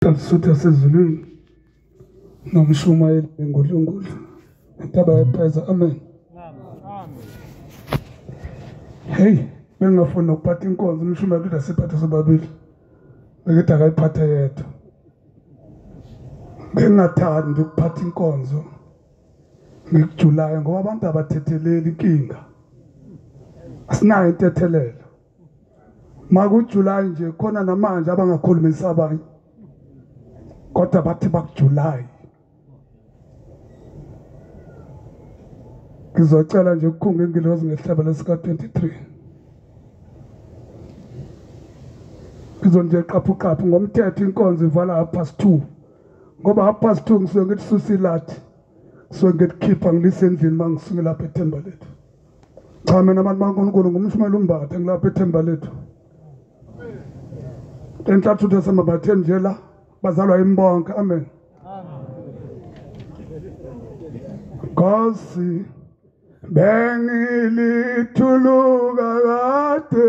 Sasutha sezulwini nomshumayeli ngudlungudlu intaba yapheza amen hey bengafuni nokuphatha inkonzo umshumayeli kuthi asiphathe sobabili bekithi akayiphathe yedwa bengingathandi ukuphatha inkonzo ngikujulayo ngoba abantu abathetheleli inkinga asinayo intethelelo makujuly nje khona namanje abangakhulumisa abanye kodwa bathi bakujuly ngizocela nje ukukhunga ingilozi ngehlabelo sika-23 ngizonje qaphuqaphu ngomthetho inkonzo ivala half past two ngoba half past two ngisuke ngithi susilathi ngisuke ngikukhipha ngilise endlini uma ngisuke lapha ethemba lethu cha mina abantu baNkulunkulu ngumshumayeli umbathe ngilapha ethemba lethu enhlathutha samabatheni nje la bazalwa imbonke amen Nkosi bengilithuluka kade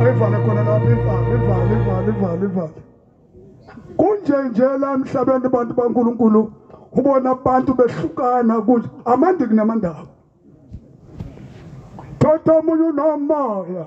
ayivale khona lapho ivale ivale ivale ivale ivale kunje nje la emhlabeni abantu bankulunkulu ubona abantu behlukana kunje amandi kunamandaba thoda omunye unomoya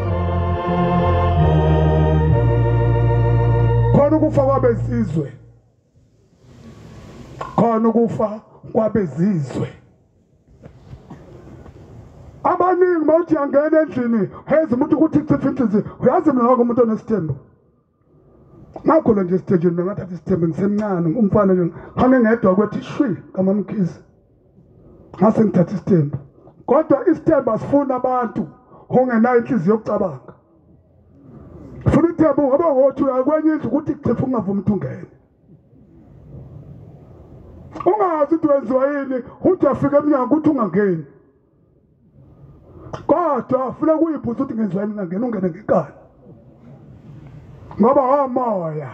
khona ukufa kwabezizwe khona ukufa kwabezizwe abaningi mawuthi yangena endlini hezi umuntu ukuthi chifa inhliziyo uyazi mina wake umuntu onesithembu ngakhona nje esitejeni bengathatha isithembe ngisemncane umfana nje ngihambe ngedwa kwethi shwi kamamkhizi ngase ngithatha isithembe kodwa isithembe asifuni abantu ongenayo inhliziyo yokucabanga funa ithembe ungaba ngothi uyakwenye indlu ukuthi xefu ungavumi ukuthi ungene ungazi ukuthi wenziwa yini uthi afike emnyango ukuthi ungangeni kodwa afuna kuyiphuza ukuthi ngenzani ngangena ungene ngekani ngoba omoya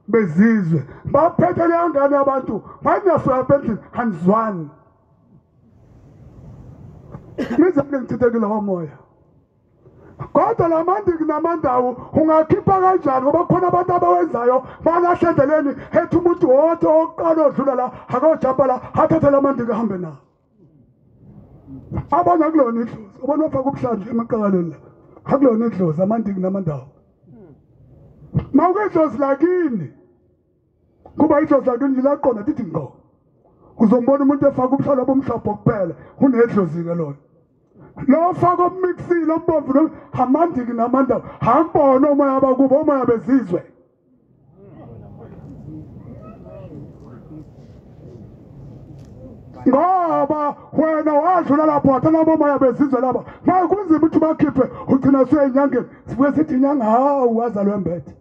bezizwe baphethe leyo ngane yabantu mayinaswaya bendlini hanizwani nizani ngithithekile womoya kodwa la mandiki namandawo ungakhipha kanjani ngoba kukhona abantu abawenzayo balahle endleleni ethi umuntu wodwa oqala odlula la akojapa la athathe la mandiki ahambe nawo abona kulona idlozi ubona ofaka ubuhlanti emaqakaleni la akulona idlozi amandiki namandawo mawuke idlozi lakini kuba idlozi lakini lilaqona tithi ngqo uzombona umuntu efaka ubuhlalo bomhlophe kuphela unedlozi-ke lona lo faka obumixile obubomvu amandiki namandawo hambona omoya bakubo omoya bezizwe ngoba wena wadlula lapho wathatha abomoya bezizwe laba maye kunzima ukuthi bakhiphe ugcina useyinyangeni sibuke sithi inyanga hawu wazalwe mbethe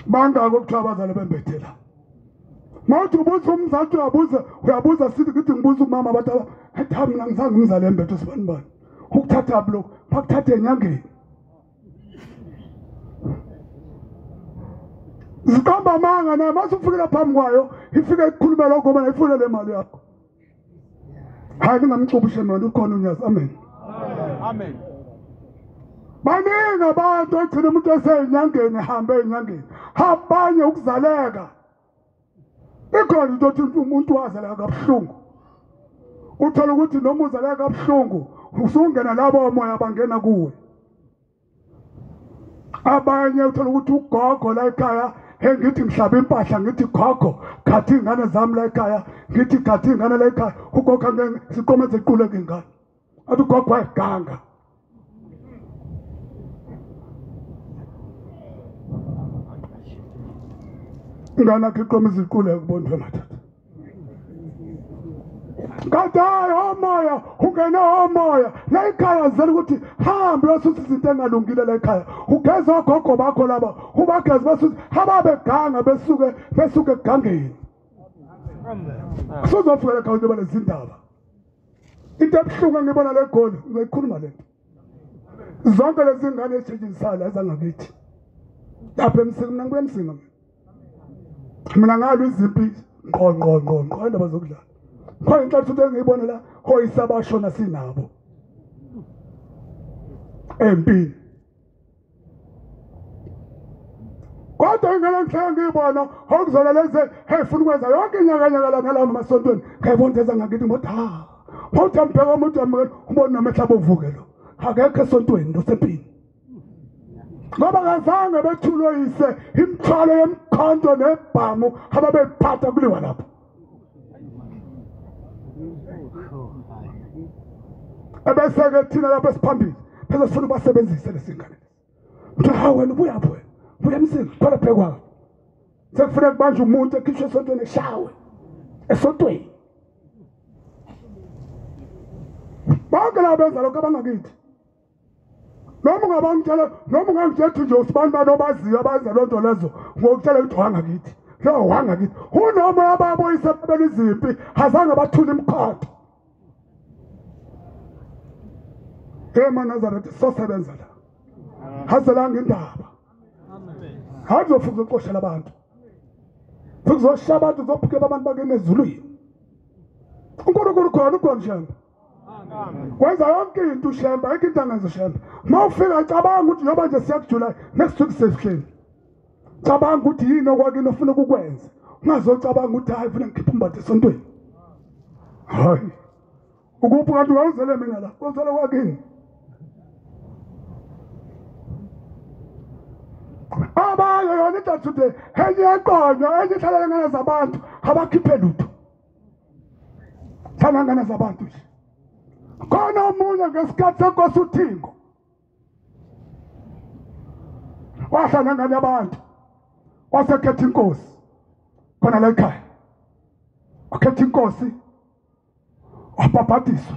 bangaki okuthiwa abazalwe bembethe la mawuthi ubuza umzali uyabuza uyabuza sithi ngithi ngibuza umama abantu athi mina ngizange umzali embethe sibanibani ukuthathaphi lokhu bakuthathe enyangeni ziqamba amanga naye mase ufikela phambi kwayo ifike ikhulume lokho ngoba ifuna le mali yakho hayi ningamcubushe mani ukhona unyazi amen amen baningi abantu egcina umuntu eseyinyangeni ehambe eyinyangeni habanye ukuzaleka ikhona into othi umuntu waze la kabuhlungu uthola ukuthi noma uze la kabuhlungu usungena labo omoya bangena kuwe abanye uthola ukuthi ugogo la ekhaya he ngithi ngihlaba impahla ngithi gogo khathi ingane zami la ekhaya ngithi khathi ingane la ekhaya ugogo siqoma zequle ngengane athi ugogo wayiganga ingane akhe iqoma iziqule kubondwe madoda kadayi omoya ungene omoya la ikhaya zela ukuthi hambe yosuthi izinto engalungile la ikhaya ugeze ogogo bakho laba ubageze basuthi hababeganga besuke besuke egangeni kusuzofikela khawuthi balezindaba into ebuhlungu engibona le goli ngizoyikhuluma le nto zonke lezi ngane ezitshitshisayo la ezangakithi lapha emsinga mina ngibuya emsinga mina mina ngalo izimpi ngqo ngqo ngqo ngqo indaba zokudlala khona inhlanhla ukuthi engiyibona la hoyisabashona sinabo empini kodwa ingela ngihlala ngiyibona okuzona lezi hey funa ukwenza yonke inyakanyaka la ngalama masontweni ngayibona into eza ngakithi ngothi ha mawuthi ambheka umuntu wamukela umbona namehla bovuke lo akekho esontweni ndosempini ngoba kazange bethulwe yise imithwalo yemkhonto nebhamu ababeyiphatha kuliwa lapho ebese-ke thina lapho esiphambili phela sifuna ubasebenzise lesingane kuthiwa ha wena ubuyaphi wena buya emsini khona bhekwakho sekufuneka kubanje umuntu ekhishwe esontweni eshawe esontweni bonke laba benza lokho abangakithi noma ungabangitshela noma ungangitshela nje usibani bani obaziyo abazi loo nto lezo ngokutshela ukuthi wanga kithi lo wanga kithi unoma ababoyise babela izimpi azange bathule imikhodo emanazaretha sosebenza la hazelanga indaba hakuzofuza ukuqoshela abantu futhi kuzoshaya abantu kuzophukela abantu bakeni ezulwini unkulunkulu khona ukhona shamba kwenza yonke into ushemba ayikho into angenza ushemba uma ufika cabanga ukuthi njengoba nje siya kujulayi next week sesihleli cabanga ukuthi yini okwakini ofuna ukukwenza ungazocabanga ukuthi hayi funa ngikhiphe umbatha esontweni hayi ukuphi kanti ungawuzele mina la uzele kwakini abanye yona idathude enye eqonywa enye ihlalele ngane zabantu abakhiphe lutho salangana zabantu nje khona omunye ngesikhathi senkosi uthingo wahlala ngane abantu wasekhetha inkosi khona la ekhaya wakhetha inkosi wabhabhadiswa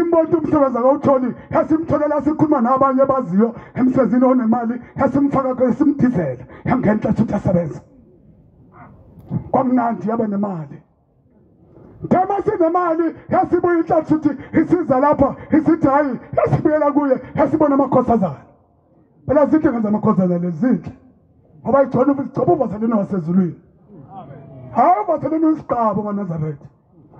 imbonto umsebenzi akawutholi yasimtholela sikhuluma nabanye baziyo emsebenzini onemali yasimfaka kule simdizela yangena inhlatha ukuthi asebenze kwamnandi yabe nemali Thema sinemali yasibuya inhlatha ukuthi isiza lapha isithi hayi yasibuyela kuye yasibona amakhosazana phela zinhle ngenza amakhosazana lezinhle ngoba igcona igcoba uvaseleni wasezulwini hayi uvaseleni uyisigqabo manazaretha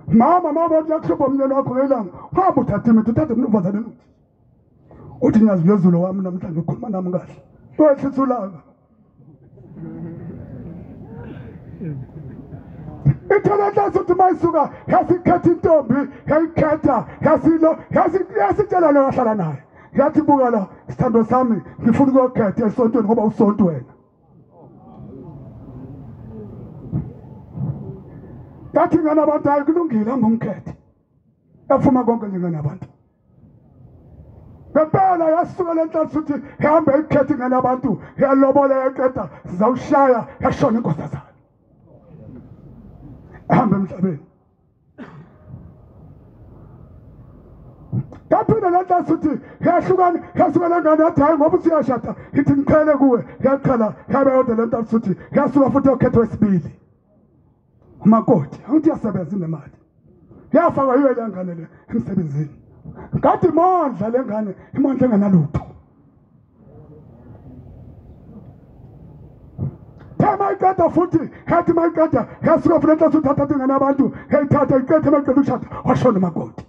mama mama uthi yakushopha umnyeni wakho ngelanga hamba uthathe imithi uthathe umnumvazane imithi uthi nyazi lezulu wami namhlanje ukhuluma nami kahle wehlisa ulaka ithelelasi uthi uma isuka yasikhetha intombi yayikhetha yasilo yasitshela leyo yahlala naye yathi buka la sithando sami ngifuna ukuyokhetha esontweni ngoba usonto wena yathi ingane abantu hayi kulungile angumkhethe efuma konke nje ingane abantu ngempela yasuka le nhlalo futhi ihambe ikhethe ingane abantu yalobola yaqeda sizawushaya yashona inkosazana ehambe emhlabeni yaphinde le nhlasi uthi yahlukana yahlukana ngane yathi hhayi ngoba uthi uyashada ithi ngiqhele kuwe yaqhala yabe yodwa le nhlasi uthi yasuka futhi yokhetha wesibili umakoti angithi yasebenza inemali yafakwa yiyo le ngane le emsebenzini kade imondla le ngane imondla engenalutho mayiqeda futhi hethi mayiqeda yasuka futhi enhloso uthatha ingane abantu eyithatha iqethe mayiqeda ukushada washona umakoti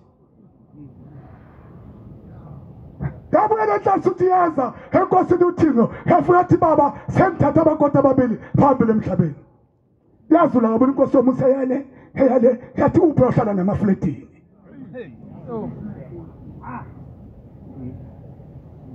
yabuye lenhlansi uthi yeza enkosini uthixo yafuna athi baba sengithatha abakoti ababili phambili emhlabeni yazula ngabona inkosi yomusa yale yale yathi uphi ohlala namafletini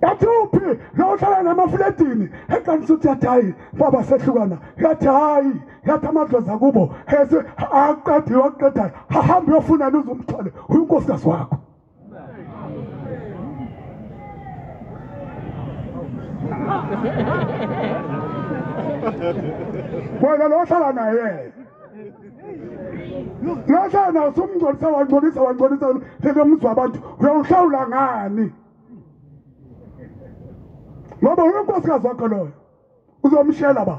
yathi uphi lo ohlala namafletini eqanisa ukuthi yathi hayi baba sehlukana yathi hayi yathi amadlozi akubo ese aqediwe aqedayo hahamba uyofunani uzumthole uyinkosi kazi wakho wena lo hlala naye lo hlala naye usumngcolisa wangcolisa wangcolisa phela umuzwa abantu uyawuhlawula ngani ngoba unkosikazi wakho loyo uzomshela ba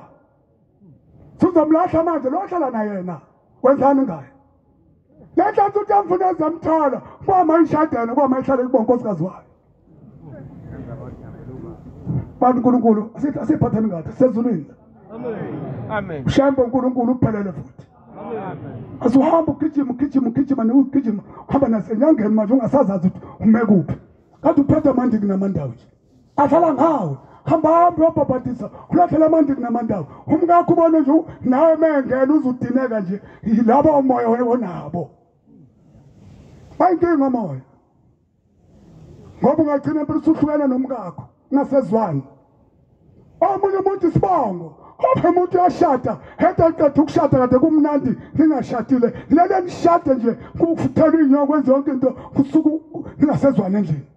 sizomlahla manje lo ohlala naye na wenzani ngaye le nhlanhla uthi amfuna ezamthola kwama ishadene kwama ihlale kubo nkosikazi wayo bantu unkulunkulu asiphatheni ngathi sezulwini amen shambe unkulunkulu uphelele futhi asihambe ugijima ugijima ugijima niwugijima uhamba nasenyangeni manje ungasazazi ukuthi ume kuphi kade uphethe amandiku namandawo nje adlala ngawe hamba hambe wabhabhadisa ulakhela amanti kunamandawo umkakho ubone nje nawe mengena uzudineka nje yilaba umoya onabo bayinkinga omoya ngoba ungagcina impela usuhlukana nomkakho ungasezwani omunye umuntu isibongo omunye umuntu uyashada hede aqeda ukushada kade kumnandi ningashadile lele nishade nje kuthela inyoko kwenze yonke into kusuke ningasezwani endlini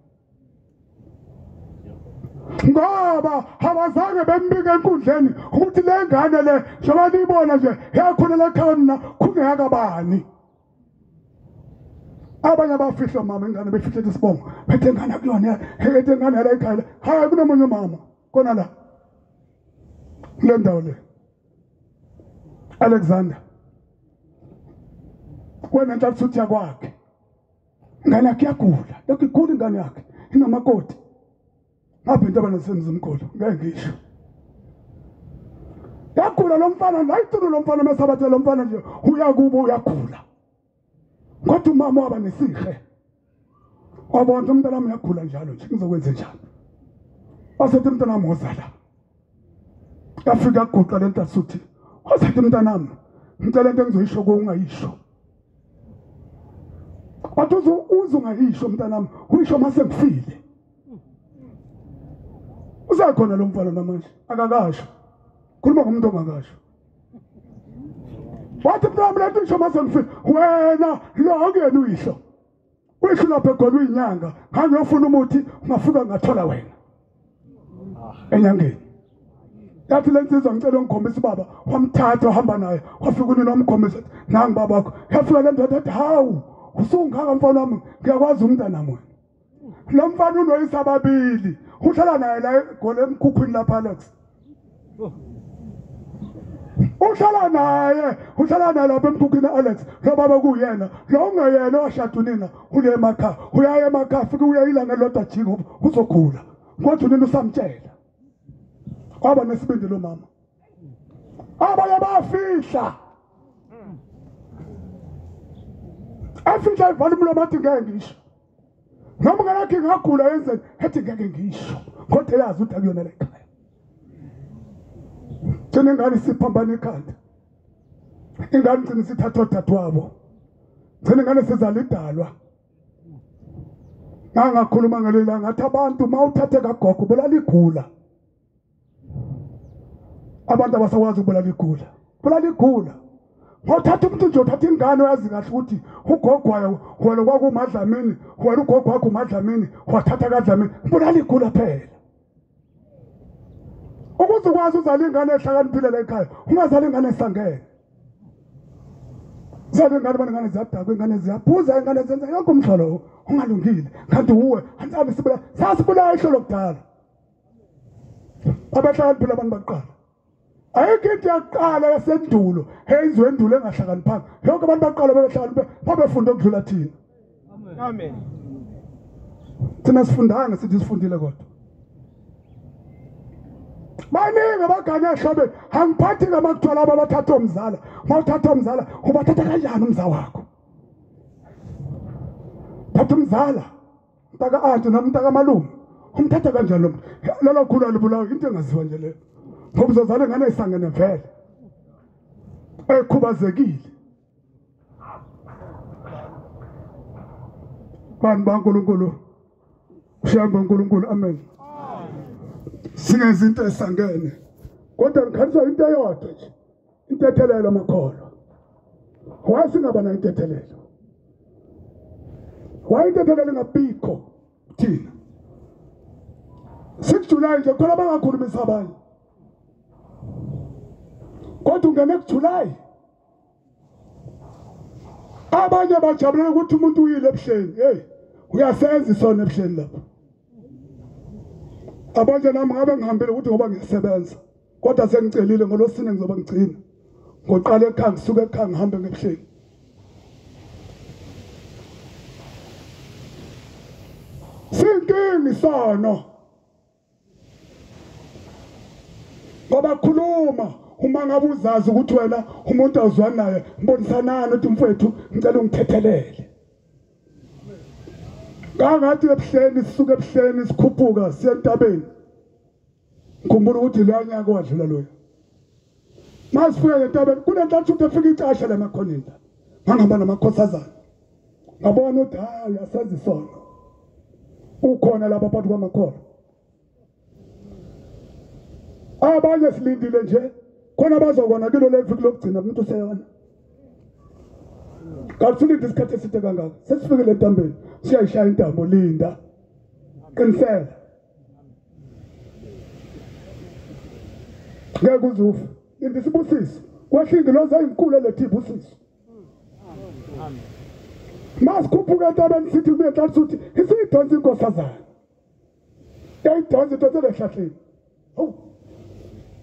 ngoba abazange bembike enkundleni ukuthi le ngane le njengoba niyibona nje yakhulela ekhaya mina khungeyakabani abanye abafihla mama ingane befihlele isibongo bethe ngane kulona ethe ngane yala ekhaya hayi kunomunye umama kona la kule ndawo le alexander wena ntathuthi yakwakhe Ngane yakhe yagula, yakhe igula ingane yakhe, inamakoti. Ngapha into abanesemzimkhulu, ngeke ngisho. Yagula lo mfana, ngayithuno lo mfana mesabathe lo mfana nje, uyakubo uyagula. Kodwa umama waba nesihe. Wabona umntana wami uyagula njalo nje, ngizokwenza njani? Wasethi umntana wami wozala. Yafika guqa lentasuthi. Wasethi umntana wami, ngicela into engizoyisho ko ungayisho. kodwa uze uze ungayisho mntanami uyisho mase ngifile usakhona lo mfana namanje akakasho khuluma ngomuntu ongakasho wathi mntanami lento isho mase ngifile wena lo akuyena uyisho Uyisho lapha egolwe inyanga, hamba uyofuna umuthi ungafika ngathola wena. Enyangeni. Yathi lensizwa ngicela ungikhombisa ubaba, wamthatha uhamba naye, wafika unina wamkhombisa, nangi baba wakho. Yafika le ndoda ethi hawu, usungaka mfana wami, ngiyakwazi umntana mona. Lo mfana unoyisa ababili, uhlala naye la egole emkhukhwini lapha Alex. uhlala naye uhlala naye lapha emkhukhwini alex lo baba kuyena lo ungeyena owashada unina ule emakhaya uyaye emakhaya futhi uye ilanga elodwa jingo uzogula kodwa unina usamtshela kwaba nesibindi lo mama abanye bayafihla afihla ivala umlomo athi ngeke ngisho noma ngalakhe ngagula yenzeni ethi ngeke ngisho kodwa eyazi ukuthi akuyona le khaya gcine ngani siphambana ikhanda ingane gcine sithathwa dadwabo gcine ngane sizala idalwa ngangakhuluma ngaleli langa ngathi abantu uma uthathe kagogo bolaligula abantu abasakwazi ukubulala igula bulala igula ngothatha umuntu nje uthatha ingane oyazi kahle ukuthi ugogwayo wena kwakumadlamini wena ugogo wakho umadlamini wathatha kadlamini bulala igula phela ukuze ukwazi uzala ingane ehlakaniphile la ekhaya ungazala ingane esangene zabe ingane bona ingane ziyadakwa ingane ziyaphuza ingane zenza yonke umhlolo ungalungile kanti wuwe ansabe sibula sasibulayo ihlolo kudala abahlakaniphi labantu bakuqala ayikho into yakuqala yasendulo eyenziwe endulo engahlakaniphanga yonke abantu baqala bebehlakaniphe babefunda okudlula thina amen thina sifundanga sithi sifundile kodwa baningi abagane ehlobeni angiphathi ngama kuthiwa laba bathatha omzala uma uthatha omzala ubathatha kanjani umza wakho thatha umzala mntaka ade noma mntaka malume umthatha kanjani lo mntu lolo khulu alibulawa into engaziwa nje leyo ngoba uzozala ingane isangene vele ekhubazekile bani bankulunkulu ushaya bankulunkulu amen singezinto esangene kodwa ngikhaniswa into eyodwa nje intethelelo makholwa wayesingaba nayo intethelelo wayintethelelo engabikho thina 6 July nje khona bangakhulumisa abanye kodwa ungene kuJuly abanye bajabulela ukuthi umuntu uyile ebuhleni hey uyasenza isona ebuhleni lapho Abanje nami ngabe ngihambile ukuthi ngoba ngiyasebenza kodwa sengicelile ngolosine ngizobe ngigcina ngoqala ekhaya ngisuke ekhaya ngihambe ngebuhleni sinkingi sono ngoba khuluma uma ngabe uzazi ukuthi wena umuntu awuzwani naye mbonisanani uthi mfowethu ngicela ungithethelele kangathi ebuhleni sisuke ebuhleni sikhuphuka siye entabeni ngikhumbula ukuthi leya nyaka wadlula loyo masifika entabeni kunentathuthi efika icashe lamakhonenta ngangihamba namakhosazana ngabona ukuthi hayi asenze isono ukhona lapha phakathi kwamakhola abanye silindile nje khona bazokona kilo leviki lokugcina umuntu useyona kasilinde isikhathi eside kangaka sesifikile entambeni siyayishaya intambo linda qinisela ngeke uzufe linda isibusiso kwehlingi loze eyinkulu eletha ibusiso masikhuphuka entabeni sithi kuye hlali suthi isiyidonsa inkosazana yayidansa idonsela ehlahleni hawu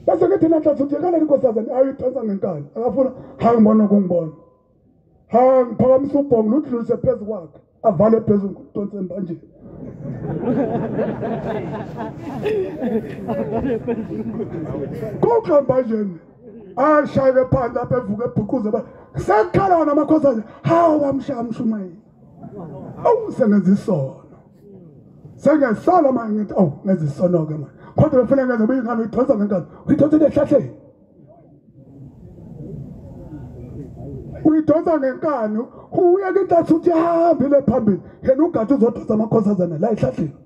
bese ngithi nanhlanhla uthi kanani inkosazane ayidansa ngenkani akafuna hayi ngibona kungibona ha ngiphakamisa ubhongo ludlulise phezu kwakhe avale phezulu ngidonse embanjeni kuxa mbanjeni ashayeke phansi apha evuke ebhuquze sekukhala wona amakhosazane hawu wamshaya mshumayeli awu sengenza isono sengesala manje ngithi awu ngenza isono-ke manje kodwa befuna ngenza uba ingane uyidonsa ngenkazi uyidonsela ehlahleni uyidonsa ngenkani uye kintatha uthi hambile phambili yena ugade uzodonsa amakhosazana la ehlahleni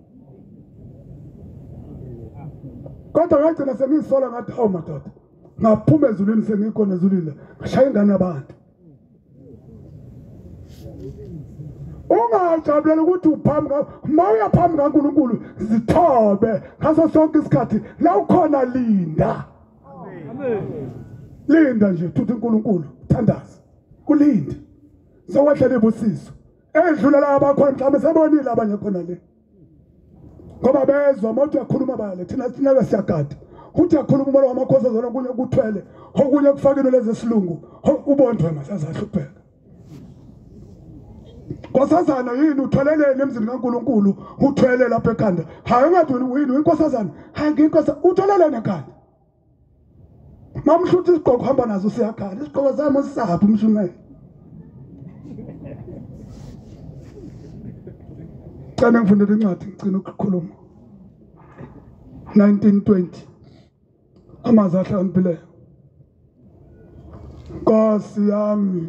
kodwa ngagcina sengiyisola ngathi awu madoda ngaphuma ezulwini sengikhona ezulwini la ngashaya ingane yabantu ungajabulela ukuthi uphambi uma uya phambi kankulunkulu zithobe ngaso sonke isikhathi la ukhona linda linda nje thuthi unkulunkulu thandaza kulinde sowehlela ibusiso edlula la abakhona mhlawumbe sebonile abanye khona le ngoba bezwa uma uthi uyakhuluma bale thina sinake siyagada uthi akhuluma umoya wamakhosi ozona kunye kuthwele okunye kufakile lezi silungu ubondwe masazahle ubheka nkosazana yini uthweleleni emzini kaNkuluNkulu uthwele lapha ekhanda hayi ungathi yini inkosazana hayi nginkosa uthweleleni ekhanda mamhluthi isigqoko hamba nazo siyakhala isigqoko sami sisaphi umshumela cela ngifundele incwadi ngicina ukukhuluma 1920 amazi ahlakaniphile nkosi yami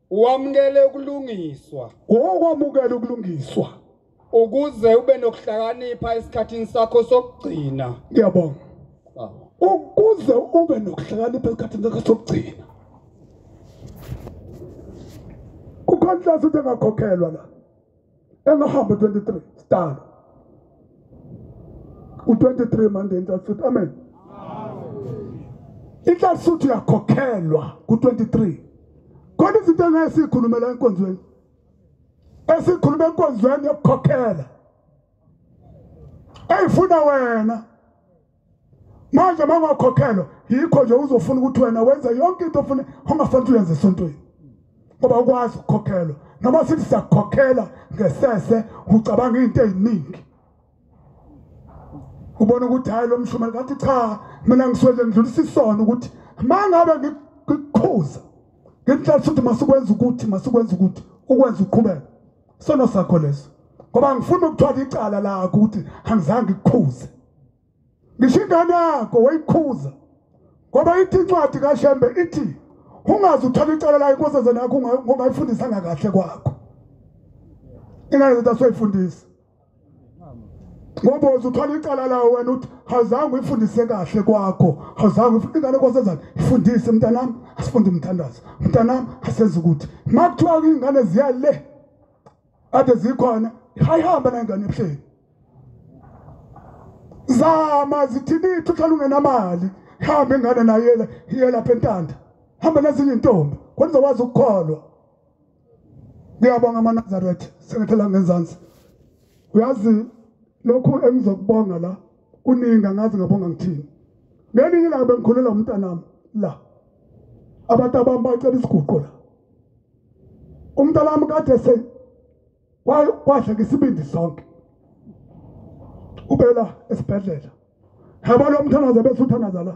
Wamukele ukulungiswa. Okwamukela ukulungiswa. Ukuze ube nokuhlakanipha esikhathini sakho sokugcina. Ngiyabonga. Ukuze ube nokuhlakanipha esikhathini sakho sokugcina. Ukhontlazi uthi angakhokhelwa la. Engahambi 23 star. U23 manje inhlanhla amen. Inhlanhla uthi yakhokhelwa ku23. Kodwa izinto engayisikhulumela enkonzweni. Esikhuluma enkonzweni yokukhokhela. Eyifuna wena. manje mangakhokhelwa yikho nje uzofuna ukuthi wena wenze yonke into ofuna ongafanele uyenze esontweni ngoba ukwazi ukukhokhelwa noma sithi sakukhokhela ngesese ucabanga into eziningi ubona ukuthi hayi lo mshumeli ngathi cha mina ngiswele ngidlulisa isono ukuthi mangabe ngikukhuza ngikuhlalisa ukuthi masikwenza ukuthi masikwenza ukuthi ukwenza uqhubeka sono sakho leso ngoba ngifuna ukuthwala icala lakho ukuthi angizange ikukhuze ngisho ingane yakho wayikhuza ngoba ithi incwadi kashembe ithi ungaze uthole icala layo inkosazana yakho ungayifundisanga kahle kwakho ingane zethu asoyifundisa ngoba uzuthola icala lawo wena uthi awuzange uyifundise kahle kwakho awuzange ufunde ingane kwasezane ifundise mntanami asifunde umthandazo mntanami asenze ukuthi ma kuthiwa iy'ngane ziya le ade zikhona hayihamba nayingane ebuhleni zama zithinithi uhlala ungenamali hamba ingane nayela iyelapha entanda hamba nezinye intombi kwenza wazi ukukholwa ngiyabonga amanazaretha sengathi la ngenzansi uyazi lokhu engizokubonga la kuningi angazi ngabonga ngithini ngelinye ilanga bengikhulela umntanami la abantu abami bacela isiguqo la umntanami kade se wadla ngesibindi sonke ubela esibhedlela yabona umthanaza bese uthanaza la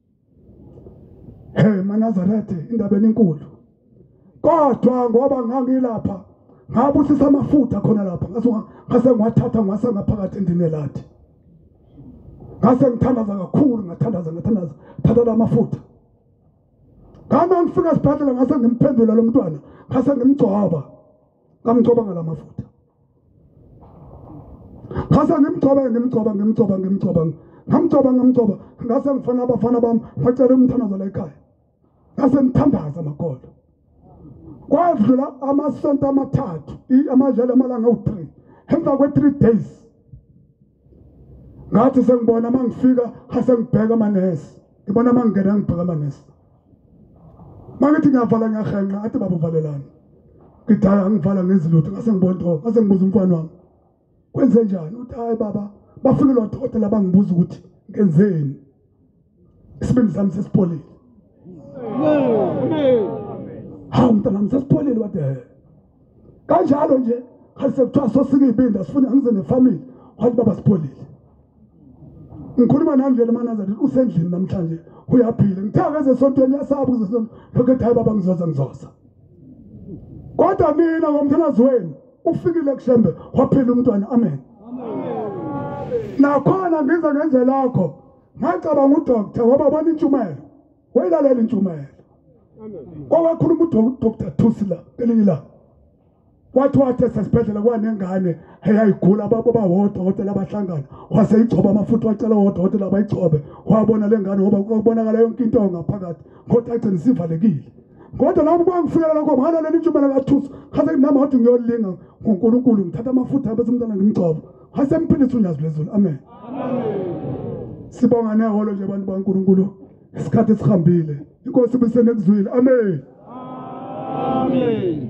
Hey manazarethe indaba enkulu. Kodwa ngoba ngangilapha ngabusisa amafutha khona lapha ngase ngase ngwathatha ngwase ngaphakathi endini elathi. Ngase ngithandaza kakhulu ngathandaza ngathandaza thatha lamafutha. Ngama ngifika esibhedlela ngase ngimphendula lo mntwana ngase ngimgcoba. Ngamgcoba ngalamafutha. ngase ngimgcoba ngimgcoba ngimgcoba ngimgcoba ngamgcoba ngamgcoba ngase ngifana abafana bami bacela umthandazo la ekhaya ngase ngithandaza makolo kwadlula amasonto amathathu amajele amalanga awu-three emva kwe-three days ngathi sengibona uma ngifika asengibheka amanesi ngibona uma ngingena ngibheka amanesi uma ngithi ngiyavala ngiyahenqa athi baba uvalelani ngidala ngivala ngenzi lutho ngase ngibona oh, ngase ngibuza umfana wami kwenze njani uthi hayi baba bafikile odokotela bangibuza ukuthi ngenzeni isibindi sami sesipholile hawu mntanami sesipholile wade kanjalo nje hayi sekuthiwa sosike iy'bindi asifuni angize nefamily wathi baba sipholile ngikhuluma nami vele manaza ndithi usendlini namhlanje uyaphila ngithe akeze esontweni uyasaba kuze lokhu ethi hayi baba ngizoza ngizoza kodwa mina ngomthandazi wenu ufikile kushembe waphila umntwana amen nakhona ngize ngenze lakho ngacabanga udokta ngoba bona intshumayelo wayilalela intshumayelo kwawakhuluma udokta thusi la kelinye la wathi wathi esesibhedlela kwanengane eyayigula babo bawodwa odokotela abahlangana waseyigcoba amafutha wacela wodokotela abayigcobe wabona le ngane ngoba kubonakala yonke into ngaphakathi kodwa agcina isivalekile kodwa lapho kwangifikela lokho ngalo leli ntshuba lakathusa ngase nami wathi ngiyolinga ngoNkulunkulu ngithatha amafutha bese umntana ngimgcoba ngase mphilisa unyazi lezulu amen sibonga neholo nje abantu baNkulunkulu isikhathi sihambile inkosi bisenekuzwile amen amen